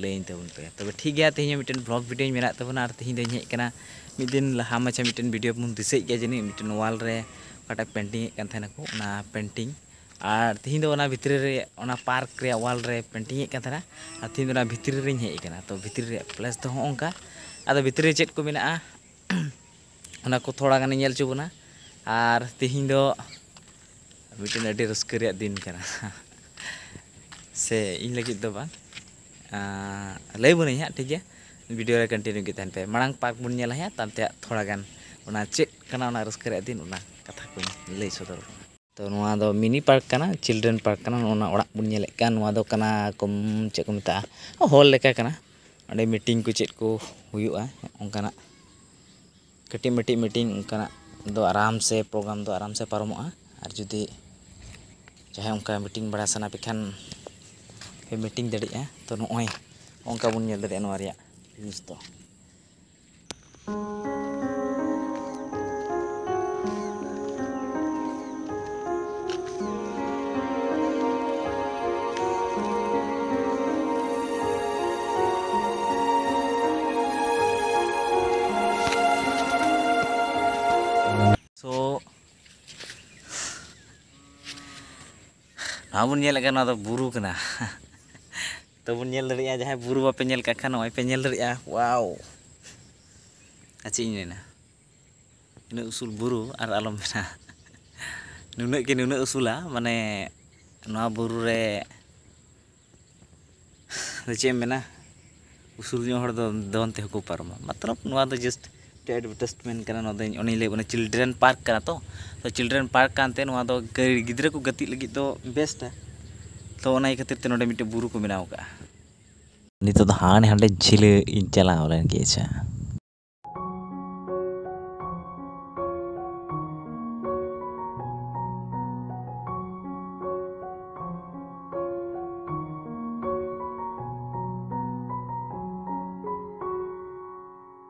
ᱞᱟᱹᱭᱟᱹᱧ ᱛᱟᱵᱚᱱ ᱯᱮ ᱛᱚᱵᱮ ᱴᱷᱤᱠ ᱜᱮᱭᱟ ᱛᱮᱦᱮᱧ ᱦᱚᱸ ᱢᱤᱫᱴᱮᱱ ᱵᱞᱚᱜ ᱵᱷᱤᱰᱤᱭᱳᱧ ᱢᱮᱱᱟᱜ ᱛᱟᱵᱚᱱᱟ ᱟᱨ ᱛᱮᱦᱮᱧ ᱫᱚᱧ ᱦᱮᱡ ᱟᱠᱟᱱᱟ ᱢᱤᱫ ᱫᱤᱱ ᱞᱟᱦᱟ ᱢᱟᱪᱷᱟ ᱢᱤᱫᱴᱮᱱ ᱵᱷᱤᱰᱤᱭᱳ ᱵᱚᱱ ᱫᱤᱥᱟᱹᱭᱮᱫ ᱜᱮᱭᱟ ᱡᱟᱹᱱᱤᱡ ᱢᱤᱫᱴᱮᱱ ᱣᱟᱞ ᱨᱮ ᱚᱠᱟᱴᱟᱜ ᱯᱮᱱᱴᱤᱝ ᱮᱫ ᱠᱟᱱ ᱛᱟᱦᱮᱱᱟᱠᱚ ᱚᱱᱟ ᱯᱮᱱᱴᱤᱝ ᱟᱨ ᱛᱮᱦᱮᱧ ᱫᱚ ᱚᱱᱟ ᱵᱷᱤᱛᱨᱤ ᱨᱮ ᱚᱱᱟ ᱯᱟᱨᱠ ᱨᱮᱭᱟᱜ ᱣᱟᱞ ᱨᱮ ᱯᱮᱱᱴᱤᱝ ᱮᱫ ᱠᱟᱱ ᱛᱟᱦᱮᱱᱟ ᱟᱨ ᱛᱮᱦᱮᱧ ᱫᱚ ᱚᱱᱟ ᱵᱷᱤᱛᱨᱤ ᱨᱮᱧ ᱦᱮᱡ ᱟᱠᱟᱱᱟ ᱛᱚ ᱵᱷᱤᱛᱨᱤ ᱨᱮᱭᱟᱜ ᱯᱞᱮᱥ ᱫᱚ ᱦᱚᱸᱜᱼᱚ ᱱᱚᱝᱠᱟ ᱟᱫᱚ ᱵᱷᱤᱛᱨᱤ ᱨᱮ ᱪᱮᱫ ᱠᱚ ᱢᱮᱱᱟᱜᱼᱟ ᱚᱱᱟ ᱠᱚ ᱛᱷᱚᱲᱟ ᱜᱟᱱᱮ ᱧᱮᱞ ᱦᱚᱪᱚ ᱵᱚᱱᱟ ᱟᱨ ᱛᱮᱦᱮᱧ ᱫᱚ ᱢᱤᱫᱴᱮᱱ ᱟᱹᱰᱤ ᱨᱟᱹᱥᱠᱟᱹ ᱨᱮᱭᱟᱜ ᱫᱤᱱ ᱠᱟᱱᱟ ᱥᱮ ᱤᱧ ᱞᱟᱹᱜᱤᱫ ᱫᱚ ᱵᱟᱝ ᱞᱟᱹᱭ ᱵᱚᱱᱟᱹᱧ ᱦᱟᱸᱜ ᱴᱷᱤᱠ ᱜᱮᱭᱟ ᱵᱷᱤᱰᱤᱭᱳ ᱨᱮ ᱠᱚᱱᱴᱤᱱᱤᱭᱩ ᱜᱮ ᱛᱟᱦᱮᱱ ᱯᱮ ᱢᱟᱲᱟᱝ ᱯᱟᱨᱠ ᱵᱚᱱ ᱧᱮᱞᱟ ᱦᱟᱸᱜ ᱛᱟᱭᱚᱢ ᱛᱮ ᱦᱟᱸᱜ ᱛᱷᱚᱲᱟ ᱜᱟᱱ ᱚᱱᱟ ᱪᱮᱫ ᱠᱟᱱᱟ ᱚᱱᱟ ᱨᱟᱹᱥᱠᱟᱹ ᱨᱮᱭᱟᱜ ᱫᱤᱱ ᱚᱱᱟ ᱠᱟᱛᱷᱟ ᱠᱚᱧ ᱞᱟᱹᱭ ᱥᱚᱫᱚᱨ ᱟᱵᱚᱱᱟ ᱛᱚ ᱱᱚᱣᱟ ᱫᱚ ᱢᱤᱱᱤ ᱯᱟᱨᱠ ᱠᱟᱱᱟ ᱪᱤᱞᱰᱨᱮᱱ ᱯᱟᱨᱠ ᱠᱟᱱᱟ ᱱᱚᱜᱼᱚ ᱱᱟ ᱚᱲᱟᱜ ᱵᱚᱱ ᱧᱮᱞᱮᱫ ᱠᱟᱱ ᱱᱚᱣᱟ ᱫᱚ ᱠᱟᱱᱟ ᱠᱚ ᱪᱮᱫ ᱠᱚ ᱢᱮᱛᱟᱜᱼᱟ ᱦᱚᱞ ᱞᱮᱠᱟ ᱠᱟᱱᱟ ᱚᱸᱰᱮ ᱢᱤᱴᱤᱝ ᱠᱚ ᱪᱮᱫ ᱠᱚ ᱦᱩᱭᱩᱜᱼᱟ ᱚᱱᱠᱟᱱᱟᱜ ᱠᱟᱹᱴᱤᱡ ᱢᱟᱹᱴᱤᱡ ᱢᱤᱴᱤᱝ ᱚᱱᱠᱟᱱᱟᱜ ᱫᱚ ᱟᱨᱟᱢ ᱥᱮ ᱯᱨᱳᱜᱨᱟᱢ ᱫᱚ ᱟᱨᱟᱢ ᱥᱮ ᱯᱟᱨᱚᱢᱚᱜᱼᱟ ᱟᱨ ᱡᱩᱫᱤ ᱡᱟᱦᱟᱸᱭ ᱚᱱᱠᱟ ᱢᱤᱴᱤᱝ ᱵᱟᱲᱟ ᱥᱟᱱᱟ ᱯᱮ ᱠᱷᱟᱱ ᱯᱮ ᱢᱤᱴᱤᱝ ᱫᱟᱲᱮᱭᱟᱜᱼᱟ ᱛᱚ ᱱᱚᱜᱼᱚᱭ ᱚᱱᱠᱟ ᱵᱚᱱ ᱧᱮᱞ ᱫᱟᱲᱮᱭᱟᱜᱼᱟ ᱱᱚᱣᱟ ᱨᱮᱭᱟᱜ ᱡᱤᱱᱤᱥ ᱫᱚ ᱱᱚᱣᱟ ᱵᱚᱱ ᱧᱮᱞᱮᱫ ᱠᱟᱱ ᱱᱚᱣᱟ ᱫᱚ ᱵᱩᱨᱩ ᱠᱟᱱᱟ ᱛᱚᱵᱚᱱ ᱧᱮᱞ ᱫᱟᱲᱮᱭᱟᱜᱼᱟ ᱡᱟᱦᱟᱸᱭ ᱵᱩᱨᱩ ᱵᱟᱯᱮ ᱧᱮᱞ ᱠᱟᱜ ᱠᱷᱟᱱ ᱱᱚᱜᱼᱚᱭ ᱯᱮ ᱧᱮᱞ ᱫᱟᱲᱮᱭᱟᱜᱼᱟ ᱣᱟᱣ ᱟᱨ ᱪᱮᱫ ᱤᱧ ᱢᱮᱱᱟ ᱩᱱᱟᱹᱜ ᱩᱥᱩᱞ ᱵᱩᱨᱩ ᱟᱨ ᱟᱞᱚᱢ ᱢᱮᱱᱟ ᱱᱩᱱᱟᱹᱜ ᱜᱮ ᱱᱩᱱᱟᱹᱜ ᱩᱥᱩᱞᱟ ᱢᱟᱱᱮ ᱱᱚᱣᱟ ᱵᱩᱨᱩ ᱨᱮ ᱪᱮᱫ ᱮᱢ ᱢᱮᱱᱟ ᱩᱥᱩᱞ ᱧᱚᱜ ᱦᱚᱲ ᱫᱚ ᱫᱚᱱ ᱛᱮᱦᱚᱸ ᱠᱚ ᱯᱟᱨᱚᱢᱟ ᱢᱚᱛᱞᱚᱵ ᱱᱚᱣᱟ ᱫᱚ ᱡᱟᱥᱴ ᱢᱤᱫᱴᱮᱱ ᱮᱰᱵᱷᱮᱴᱟᱥᱴᱢᱮᱱᱴ ᱠᱟᱱᱟ ᱱᱚᱣᱟ ᱫᱚ ᱚᱱᱮᱧ ᱞᱟᱹᱭᱟᱫ ᱵᱚᱱᱟ ᱪᱤᱞᱰᱨᱮᱱ ᱯᱟᱨᱠ ᱠᱟᱱᱟ ᱛᱚ ᱛᱚ ᱪᱤᱞᱰᱨᱮᱱ ᱯᱟᱨᱠ ᱠᱟᱱᱛᱮ ᱱᱚᱣᱟ ᱫᱚ ᱜᱤᱫᱽᱨᱟᱹ ᱠᱚ ᱜᱟᱛᱮᱜ ᱞᱟᱹᱜᱤᱫ ᱫᱚ ᱵᱮᱥᱴᱼᱟ ᱛᱚ ᱚᱱᱟ ᱤᱭᱟᱹ ᱠᱷᱟᱹᱛᱤᱨ ᱛᱮ ᱱᱚᱰᱮ ᱢᱤᱫᱴᱮᱱ ᱵᱩᱨᱩ ᱠᱚ ᱵᱮᱱᱟᱣ ᱠᱟᱜᱼᱟ ᱱᱤᱛᱚᱜ ᱫᱚ ᱦᱟᱸᱰᱮ ᱦᱟᱸᱰᱮ ᱡᱷᱤᱞᱟᱹ ᱤᱧ ᱪᱟᱞᱟᱣ ᱞᱮᱱ ᱜᱮ ᱟᱪᱪᱷᱟ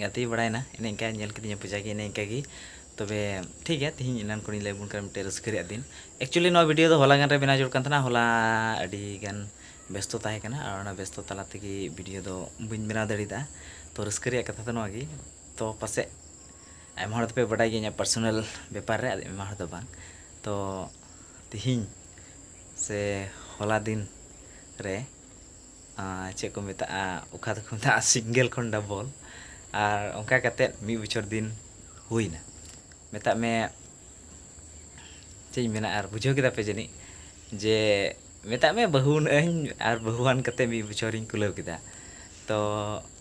ᱜᱟᱛᱮ ᱵᱟᱲᱟᱭᱮᱱᱟ ᱮᱱᱮ ᱤᱱᱠᱟ ᱧᱮᱞ ᱠᱤᱫᱤᱧᱟ ᱯᱩᱡᱟ ᱜᱮ ᱮᱱᱮ ᱤᱱᱠᱟ ᱜᱮ ᱛᱚᱵᱮ ᱴᱷᱤᱠ ᱜᱮᱭᱟ ᱛᱮᱦᱮᱧ ᱮᱱᱟᱱ ᱠᱷᱚᱱᱤᱧ ᱞᱟᱹᱭ ᱵᱚᱱ ᱠᱟᱱᱟ ᱢᱤᱫᱴᱮᱱ ᱨᱟᱹᱥᱠᱟᱹ ᱨᱮᱭᱟᱜ ᱫᱤᱱ ᱮᱠᱪᱩᱭᱮᱞᱤ ᱱᱚᱣᱟ ᱵᱷᱤᱰᱤᱭᱳ ᱫᱚ ᱦᱚᱞᱟ ᱜᱟᱱ ᱨᱮ ᱵᱮᱱᱟᱣ ᱡᱟᱹᱨᱩᱲ ᱠᱟᱱ ᱛᱟᱦᱮᱱᱟ ᱦᱚᱞᱟ ᱟᱹᱰᱤ ᱜᱟᱱ ᱵᱮᱥᱛᱚ ᱛᱟᱦᱮᱸ ᱠᱟᱱᱟ ᱟᱨ ᱚᱱᱟ ᱵᱮᱥᱛᱚ ᱛᱟᱞᱟ ᱛᱮᱜᱮ ᱵᱷᱤᱰᱤᱭᱳ ᱫᱚ ᱵᱟᱹᱧ ᱵᱮᱱᱟᱣ ᱫᱟᱲᱮᱭᱟᱫᱟ ᱛᱚ ᱨᱟᱹᱥᱠᱟᱹ ᱨᱮᱭᱟᱜ ᱠᱟᱛᱷᱟ ᱫᱚ ᱱᱚᱣᱟ ᱜᱮ ᱛᱚ ᱯᱟᱥᱮᱡ ᱟᱭᱢᱟ ᱦᱚᱲ ᱫᱚᱯᱮ ᱵᱟᱰᱟᱭ ᱜᱮᱭᱟ ᱤᱧᱟᱹᱜ ᱯᱟᱨᱥᱚᱱᱟᱞ ᱵᱮᱯᱟᱨ ᱨᱮ ᱟᱭᱢᱟ ᱦᱚᱲ ᱫᱚ ᱵᱟᱝ ᱛᱚ ᱛᱮᱦᱮᱧ ᱥᱮ ᱦᱚᱞᱟ ᱫᱤᱱ ᱨᱮ ᱪᱮᱫ ᱠᱚ ᱢᱮᱛᱟᱜᱼᱟ ᱚᱠᱟ ᱫᱚᱠᱚ ᱢᱮᱛᱟᱜᱼᱟ ᱥᱤᱝᱜᱮᱞ ᱠᱷᱚᱱ ᱰᱚᱵᱚᱞ ᱟᱨ ᱚᱱᱠᱟ ᱠᱟᱛᱮᱫ ᱢᱤᱫ ᱵᱚᱪᱷᱚᱨ ᱫᱤᱱ ᱦᱩᱭ ᱮᱱᱟ ᱢᱮᱛᱟᱜ ᱢᱮ ᱪᱮᱫ ᱤᱧ ᱢᱮᱱᱟ ᱟᱨ ᱵᱩᱡᱷᱟᱹᱣ ᱠᱮᱫᱟ ᱯᱮ ᱡᱟᱹᱱᱤᱡ ᱡᱮ ᱢᱮᱛᱟᱜ ᱢᱮ ᱵᱟᱹᱦᱩᱣᱟᱱᱟᱜ ᱟᱹᱧ ᱟᱨ ᱵᱟᱹᱦᱩᱣᱟᱱ ᱠᱟᱛᱮᱫ ᱢᱤᱫ ᱵᱚᱪᱷᱚᱨ ᱤᱧ ᱠᱩᱞᱟᱹᱣ ᱠᱮᱫᱟ ᱛᱚ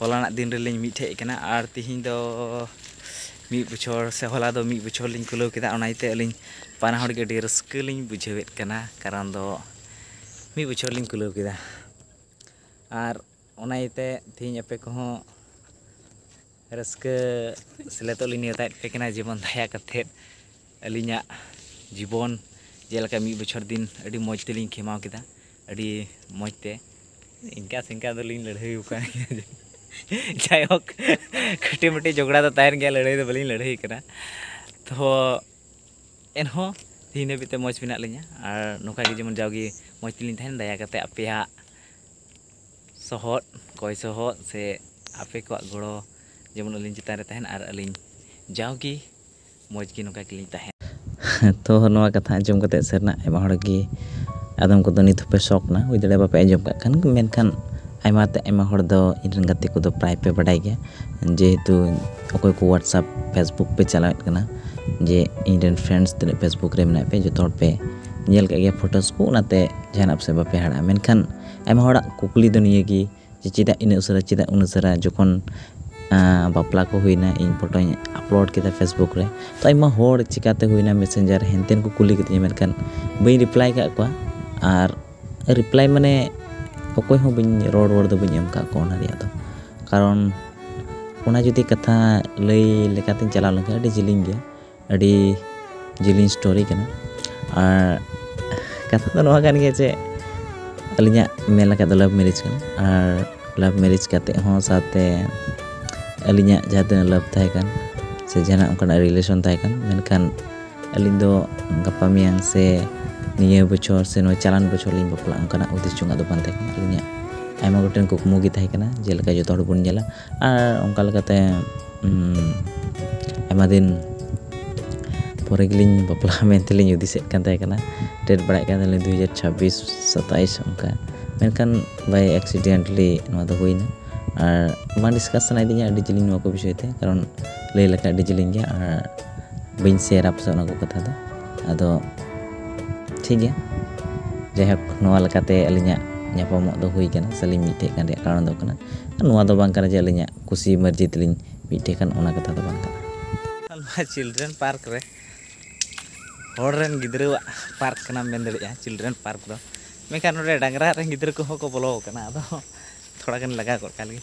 ᱦᱚᱞᱟᱱᱟᱜ ᱫᱤᱱ ᱨᱮᱞᱤᱧ ᱢᱤᱫ ᱴᱷᱮᱡ ᱠᱟᱱᱟ ᱟᱨ ᱛᱤᱦᱤᱧ ᱫᱚ ᱢᱤᱫ ᱵᱚᱪᱷᱚᱨ ᱥᱮ ᱦᱚᱞᱟ ᱫᱚ ᱢᱤᱫ ᱵᱚᱪᱷᱚᱨ ᱞᱤᱧ ᱠᱩᱞᱟᱹᱣ ᱠᱮᱫᱟ ᱚᱱᱟ ᱤᱭᱟᱹᱛᱮ ᱟᱹᱞᱤᱧ ᱵᱟᱱᱟ ᱦᱚᱲ ᱜᱮ ᱟᱹᱰᱤ ᱨᱟᱹᱥᱠᱟᱹ ᱞᱤᱧ ᱵᱩᱡᱷᱟᱹᱣᱮᱫ ᱠᱟᱱᱟ ᱠᱟᱨᱚᱱ ᱫᱚ ᱢᱤᱫ ᱵᱚᱪᱷᱚᱨ ᱞᱤᱧ ᱠᱩᱞᱟᱹᱣ ᱠᱮᱫᱟ ᱟᱨ ᱚᱱᱟ ᱤᱭᱟᱹᱛᱮ ᱛᱤᱦᱤᱧ ᱟᱯᱮ ᱠᱚᱦᱚᱸ ᱨᱟᱹᱥᱠᱟᱹ ᱥᱮᱞᱮᱫᱚᱜ ᱞᱤᱧ ᱱᱮᱣᱛᱟᱭᱮᱫ ᱯᱮ ᱠᱟᱱᱟ ᱡᱮᱢᱚᱱ ᱫᱟᱭᱟ ᱠᱟᱛᱮᱫ ᱟᱹᱞᱤᱧᱟᱜ ᱡᱤᱵᱚᱱ ᱡᱮᱞᱮᱠᱟ ᱢᱤᱫ ᱵᱚᱪᱷᱚᱨ ᱫᱤᱱ ᱟᱹᱰᱤ ᱢᱚᱡᱽ ᱛᱮᱞᱤᱧ ᱠᱷᱮᱢᱟᱣ ᱠᱮᱫᱟ ᱟᱹᱰᱤ ᱢᱚᱡᱽ ᱛᱮ ᱤᱱᱠᱟᱹ ᱥᱤᱱᱠᱟᱹ ᱫᱚᱞᱤᱧ ᱞᱟᱹᱲᱦᱟᱹᱭ ᱟᱠᱟᱱ ᱜᱮᱭᱟ ᱡᱟᱭᱦᱳᱠ ᱠᱟᱹᱴᱤᱡ ᱢᱟᱹᱴᱤᱡ ᱡᱷᱚᱜᱽᱲᱟ ᱫᱚ ᱛᱟᱦᱮᱱ ᱜᱮᱭᱟ ᱞᱟᱹᱲᱦᱟᱹᱭ ᱫᱚ ᱵᱟᱹᱞᱤᱧ ᱞᱟᱹᱲᱦᱟᱹᱭ ᱠᱟᱱᱟ ᱛᱚ ᱮᱱᱦᱚᱸ ᱛᱤᱦᱤᱧ ᱦᱟᱹᱵᱤᱡ ᱛᱮ ᱢᱚᱡᱽ ᱢᱮᱱᱟᱜ ᱞᱤᱧᱟᱹ ᱟᱨ ᱱᱚᱝᱠᱟ ᱜᱮ ᱡᱮᱢᱚᱱ ᱡᱟᱣᱜᱮ ᱢᱚᱡᱽ ᱛᱮᱞᱤᱧ ᱛᱟᱦᱮᱱ ᱫᱟᱭᱟ ᱠᱟᱛᱮᱫ ᱟᱯᱮᱭᱟᱜ ᱥᱚᱦᱚᱫ ᱠᱚᱭ ᱥᱚᱦᱚᱫ ᱥᱮ ᱟᱯᱮ ᱠᱚᱣᱟᱜ ᱜᱚᱲᱚ ᱡᱮᱢᱚᱱ ᱟᱹᱞᱤᱧ ᱪᱮᱛᱟᱱ ᱨᱮ ᱛᱟᱦᱮᱱ ᱟᱨ ᱟᱹᱞᱤᱧ ᱡᱟᱣ ᱜᱮ ᱢᱚᱡᱽ ᱜᱮ ᱱᱚᱝᱠᱟ ᱜᱮᱞᱤᱧ ᱛᱟᱦᱮᱱ᱾ ᱛᱚ ᱱᱚᱣᱟ ᱠᱟᱛᱷᱟ ᱟᱸᱡᱚᱢ ᱠᱟᱛᱮ ᱥᱟᱹᱨᱤᱱᱟᱜ ᱟᱭᱢᱟ ᱦᱚᱲ ᱜᱮ ᱟᱫᱚᱢ ᱠᱚᱫᱚ ᱱᱤᱛ ᱦᱚᱸᱯᱮ ᱥᱚᱠ ᱱᱟ ᱦᱩᱭ ᱫᱟᱲᱮᱭᱟᱜᱼᱟ ᱵᱟᱯᱮ ᱟᱸᱡᱚᱢ ᱠᱟᱜ ᱠᱷᱟᱱ ᱢᱮᱱᱠᱷᱟᱱ ᱟᱭᱢᱟ ᱛᱮ ᱟᱭᱢᱟ ᱦᱚᱲ ᱫᱚ ᱤᱧ ᱨᱮᱱ ᱜᱟᱛᱮ ᱠᱚᱫᱚ ᱯᱨᱟᱭ ᱯᱮ ᱵᱟᱰᱟᱭ ᱜᱮᱭᱟ ᱡᱮᱦᱮᱛᱩ ᱚᱠᱚᱭ ᱠᱚ ᱣᱟᱴᱥᱟᱯ ᱯᱷᱮᱥᱵᱩᱠ ᱯᱮ ᱪᱟᱞᱟᱣᱮᱫ ᱠᱟᱱᱟ ᱡᱮ ᱤᱧ ᱨᱮᱱ ᱯᱷᱨᱮᱱᱰᱥ ᱛᱤᱱᱟᱹᱜ ᱯᱷᱮᱥᱵᱩᱠ ᱨᱮ ᱢᱮᱱᱟᱜ ᱯᱮ ᱡᱚᱛᱚ ᱦᱚᱲ ᱯᱮ ᱧᱮᱞ ᱠᱟᱜ ᱜᱮᱭᱟ ᱯᱷᱚᱴᱚᱥ ᱠᱚ ᱚᱱᱟᱛᱮ ᱡᱟᱦᱟᱱᱟᱜ ᱯᱟᱥᱮᱡ ᱵᱟᱯᱮ ᱦᱟᱦᱟᱲᱟᱜᱼᱟ ᱢᱮᱱᱠᱷᱟᱱ ᱟᱭᱢᱟ ᱦᱚᱲᱟᱜ ᱠᱩᱠᱞᱤ ᱫᱚ ᱱᱤᱭᱟᱹ ᱜᱮ ᱡᱮ ᱪᱮᱫᱟᱜ ᱤᱱᱟᱹᱜ ᱩᱥᱟᱹᱨᱟ ᱪᱮᱫᱟᱜ ᱩᱱᱟᱹᱜ ᱩᱥᱟᱹᱨᱟ ᱡᱚᱠᱷᱚᱱ ᱵᱟᱯᱞᱟ ᱠᱚ ᱦᱩᱭᱱᱟ ᱤᱧ ᱯᱷᱳᱴᱳᱧ ᱟᱯᱞᱳᱰ ᱠᱮᱫᱟ ᱯᱷᱮᱥᱵᱩᱠ ᱨᱮ ᱛᱚ ᱟᱭᱢᱟ ᱦᱚᱲ ᱪᱤᱠᱟᱹᱛᱮ ᱦᱩᱭᱱᱟ ᱢᱮᱥᱮᱧᱡᱟᱨ ᱦᱮᱱᱛᱮᱱ ᱠᱚ ᱠᱩᱞᱤ ᱠᱤᱫᱤᱧᱟ ᱢᱮᱱᱠᱷᱟᱱ ᱵᱟᱹᱧ ᱨᱤᱯᱞᱟᱭ ᱠᱟᱜ ᱠᱚᱣᱟ ᱟᱨ ᱨᱤᱯᱞᱟᱭ ᱢᱟᱱᱮ ᱚᱠᱚᱭ ᱦᱚᱸ ᱵᱟᱹᱧ ᱨᱚᱲ ᱨᱚᱲ ᱫᱚ ᱵᱟᱹᱧ ᱮᱢ ᱠᱟᱜ ᱠᱚᱣᱟ ᱚᱱᱟ ᱨᱮᱭᱟᱜ ᱫᱚ ᱠᱟᱨᱚᱱ ᱚᱱᱟ ᱡᱩᱫᱤ ᱠᱟᱛᱷᱟ ᱞᱟᱹᱭ ᱞᱮᱠᱟᱛᱤᱧ ᱪᱟᱞᱟᱣ ᱞᱮᱱᱠᱷᱟᱱ ᱟᱹᱰᱤ ᱡᱤᱞᱤᱧ ᱜᱮᱭᱟ ᱟᱹᱰᱤ ᱡᱤᱞᱤᱧ ᱥᱴᱳᱨᱤ ᱠᱟᱱᱟ ᱟᱨ ᱠᱟᱛᱷᱟ ᱫᱚ ᱱᱚᱣᱟ ᱠᱟᱱ ᱜᱮᱭᱟ ᱡᱮ ᱟᱹᱞᱤᱧᱟᱜ ᱢᱮᱱ ᱞᱮᱠᱷᱟᱡ ᱫᱚ ᱞᱟᱵᱷ ᱢᱮᱨᱮᱡᱽ ᱠᱟᱱᱟ ᱟᱨ ᱞᱟᱵᱷ ᱢᱮᱨᱮᱡᱽ ᱠᱟᱛᱮ ᱦᱚᱸ ᱥᱟᱶᱛᱮ ᱟᱹᱞᱤᱧᱟᱜ ᱡᱟᱦᱟᱸ ᱛᱤᱱᱟᱹᱜ ᱞᱟᱵᱷ ᱛᱟᱦᱮᱸ ᱠᱟᱱ ᱥᱮ ᱡᱟᱦᱟᱱᱟᱜ ᱚᱱᱠᱟᱱᱟᱜ ᱨᱤᱞᱮᱥᱚᱱ ᱛᱟᱦᱮᱸ ᱠᱟᱱ ᱢᱮᱱᱠᱷᱟᱱ ᱟᱹᱞᱤᱧ ᱫᱚ ᱜᱟᱯᱟ ᱢᱮᱭᱟᱝ ᱥᱮ ᱱᱤᱭᱟᱹ ᱵᱚᱪᱷᱚᱨ ᱥᱮ ᱱᱚᱣᱟ ᱪᱟᱞᱟᱱ ᱵᱚᱪᱷᱚᱨ ᱞᱤᱧ ᱵᱟᱯᱞᱟᱜᱼᱟ ᱚᱱᱠᱟᱱᱟᱜ ᱦᱩᱫᱤᱥ ᱡᱚᱝᱟᱜ ᱫᱚ ᱵᱟᱝ ᱛᱟᱦᱮᱸ ᱠᱟᱱᱟ ᱟᱹᱞᱤᱧᱟᱜ ᱟᱭᱢᱟ ᱜᱚᱴᱮᱱ ᱠᱩᱠᱢᱩ ᱜᱮ ᱛᱟᱦᱮᱸ ᱠᱟᱱᱟ ᱡᱮᱞᱮᱠᱟ ᱡᱚᱛᱚ ᱦᱚᱲ ᱵᱚᱱ ᱧᱮᱞᱟ ᱟᱨ ᱚᱱᱠᱟ ᱞᱮᱠᱟᱛᱮ ᱟᱭᱢᱟ ᱫᱤᱱ ᱯᱚᱨᱮ ᱜᱮᱞᱤᱧ ᱵᱟᱯᱞᱟᱜᱼᱟ ᱢᱮᱱᱛᱮᱞᱤᱧ ᱦᱩᱫᱤᱥᱮᱫ ᱠᱟᱱ ᱛᱟᱦᱮᱸ ᱠᱟᱱᱟ ᱰᱮᱴ ᱵᱟᱲᱟᱭᱮᱫ ᱠᱟᱱ ᱛᱟᱦᱮᱱᱟᱞᱤᱧ ᱫᱩ ᱦᱟᱡᱟᱨ ᱪᱷᱟᱵᱵᱤᱥ ᱥᱟᱛᱟᱥ ᱚᱱᱠᱟ ᱢᱮᱱᱠᱷᱟᱱ ᱵᱟᱭ ᱮᱠᱥᱤᱰᱮᱱᱴᱞᱤ ᱱᱚᱣᱟ ᱫᱚ ᱦᱩᱭᱱᱟ ᱟᱨ ᱵᱟᱝ ᱰᱤᱥᱠᱟᱥ ᱥᱟᱱᱟᱭᱮᱫᱤᱧᱟ ᱟᱹᱰᱤ ᱡᱤᱞᱤᱧ ᱱᱚᱣᱟ ᱠᱚ ᱵᱤᱥᱚᱭ ᱛᱮ ᱠᱟᱨᱚᱱ ᱞᱟᱹᱭ ᱞᱮᱠᱷᱟᱡ ᱟᱹᱰᱤ ᱡᱤᱞᱤᱧ ᱜᱮᱭᱟ ᱟᱨ ᱵᱟᱹᱧ ᱥᱮᱭᱟᱨᱟ ᱯᱟᱥᱮᱡ ᱚᱱᱟ ᱠᱚ ᱠᱟᱛᱷᱟ ᱫᱚ ᱟᱫᱚ ᱴᱷᱤᱠ ᱜᱮᱭᱟ ᱡᱟᱭᱦᱳᱠ ᱱᱚᱣᱟ ᱞᱮᱠᱟᱛᱮ ᱟᱹᱞᱤᱧᱟᱜ ᱧᱟᱯᱟᱢᱚᱜ ᱫᱚ ᱦᱩᱭ ᱠᱟᱱᱟ ᱥᱮᱞᱤᱧ ᱢᱤᱫᱴᱷᱮᱡ ᱠᱟᱱ ᱨᱮᱭᱟᱜ ᱠᱟᱨᱚᱱ ᱫᱚ ᱠᱟᱱᱟ ᱱᱚᱣᱟ ᱫᱚ ᱵᱟᱝ ᱠᱟᱱᱟ ᱡᱮ ᱟᱹᱞᱤᱧᱟᱜ ᱠᱩᱥᱤ ᱢᱟᱨᱡᱤ ᱛᱮᱞᱤᱧ ᱢᱤᱫᱴᱷᱮᱡ ᱠᱟᱱ ᱚᱱᱟ ᱠᱟᱛᱷᱟ ᱫᱚ ᱵᱟᱝ ᱠᱟᱱᱟ ᱱᱚᱣᱟ ᱪᱤᱞᱰᱨᱮᱱ ᱯᱟᱨᱠ ᱨᱮ ᱦᱚᱲ ᱨᱮᱱ ᱜᱤᱫᱽᱨᱟᱹᱣᱟᱜ ᱯᱟᱨᱠ ᱠᱟᱱᱟ ᱢᱮᱱ ᱫᱟᱲᱮᱭᱟᱜᱼᱟ ᱪᱤᱞᱰᱨᱮᱱ ᱯᱟᱨᱠ ᱫᱚ ᱢᱮᱱᱠᱷᱟᱱ ᱱᱚᱰᱮ ᱰᱟᱝᱨᱟ ᱨᱮᱱ ᱜᱤᱫᱽᱨᱟᱹ ᱠᱚᱦᱚᱸ ᱠᱚ ᱵᱚᱞᱚ ᱟᱠᱟᱱᱟ ᱟᱫᱚ ᱛᱷᱚᱲᱟ ᱜᱟᱱ ᱞᱟᱜᱟ ᱜᱚᱫ ᱠᱟᱜ ᱞᱮᱜᱮ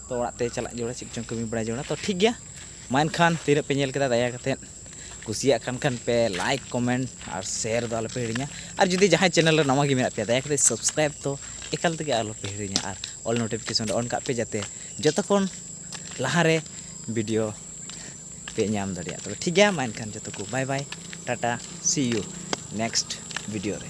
ᱛᱚ ᱚᱲᱟᱜ ᱛᱮ ᱪᱟᱞᱟᱜ ᱡᱚᱲᱟ ᱪᱮᱫ ᱪᱚᱝ ᱠᱟᱹᱢᱤ ᱵᱟᱲᱟᱭ ᱡᱚᱲᱟ ᱛᱚ ᱴᱷᱤᱠ ᱜᱮᱭᱟ ᱢᱟ ᱮᱱᱠᱷᱟᱱ ᱛᱤᱱᱟᱹᱜ ᱯᱮ ᱧᱮᱞ ᱠᱮᱫᱟ ᱫᱟᱭᱟ ᱠᱟᱛᱮᱫ ᱠᱩᱥᱤᱭᱟᱜ ᱠᱟᱱ ᱠᱷᱟᱱ ᱯᱮ ᱞᱟᱭᱤᱠ ᱠᱚᱢᱮᱱᱴ ᱟᱨ ᱥᱮᱭᱟᱨ ᱫᱚ ᱟᱞᱚᱯᱮ ᱦᱤᱲᱤᱧᱟ ᱟᱨ ᱡᱩᱫᱤ ᱡᱟᱦᱟᱸᱭ ᱪᱮᱱᱮᱞ ᱨᱮ ᱱᱟᱣᱟ ᱜᱮ ᱢᱮᱱᱟᱜ ᱯᱮᱭᱟ ᱫᱟᱭᱟ ᱠᱟᱛᱮᱫ ᱥᱟᱵᱥᱠᱨᱟᱭᱤᱵ ᱫᱚ ᱮᱠᱟᱞ ᱛᱮᱜᱮ ᱟᱞᱚᱯᱮ ᱦᱤᱲᱤᱧᱟ ᱟᱨ ᱚᱞ ᱱᱳᱴᱤᱯᱷᱤᱠᱮᱥᱚᱱ ᱨᱮ ᱚᱱ ᱠᱟᱜ ᱯᱮ ᱡᱟᱛᱮ ᱡᱚᱛᱚ ᱠᱷᱚᱱ ᱞᱟᱦᱟᱨᱮ ᱵᱷᱤᱰᱤᱭᱳ ᱯᱮ ᱧᱟᱢ ᱫᱟᱲᱮᱭᱟᱜᱼᱟ ᱛᱚᱵᱮ ᱴᱷᱤᱠ ᱜᱮᱭᱟ ᱢᱟ ᱮᱱᱠᱷᱟᱱ ᱡᱚᱛᱚ ᱠᱚ bye bye tata see you next video ᱨᱮ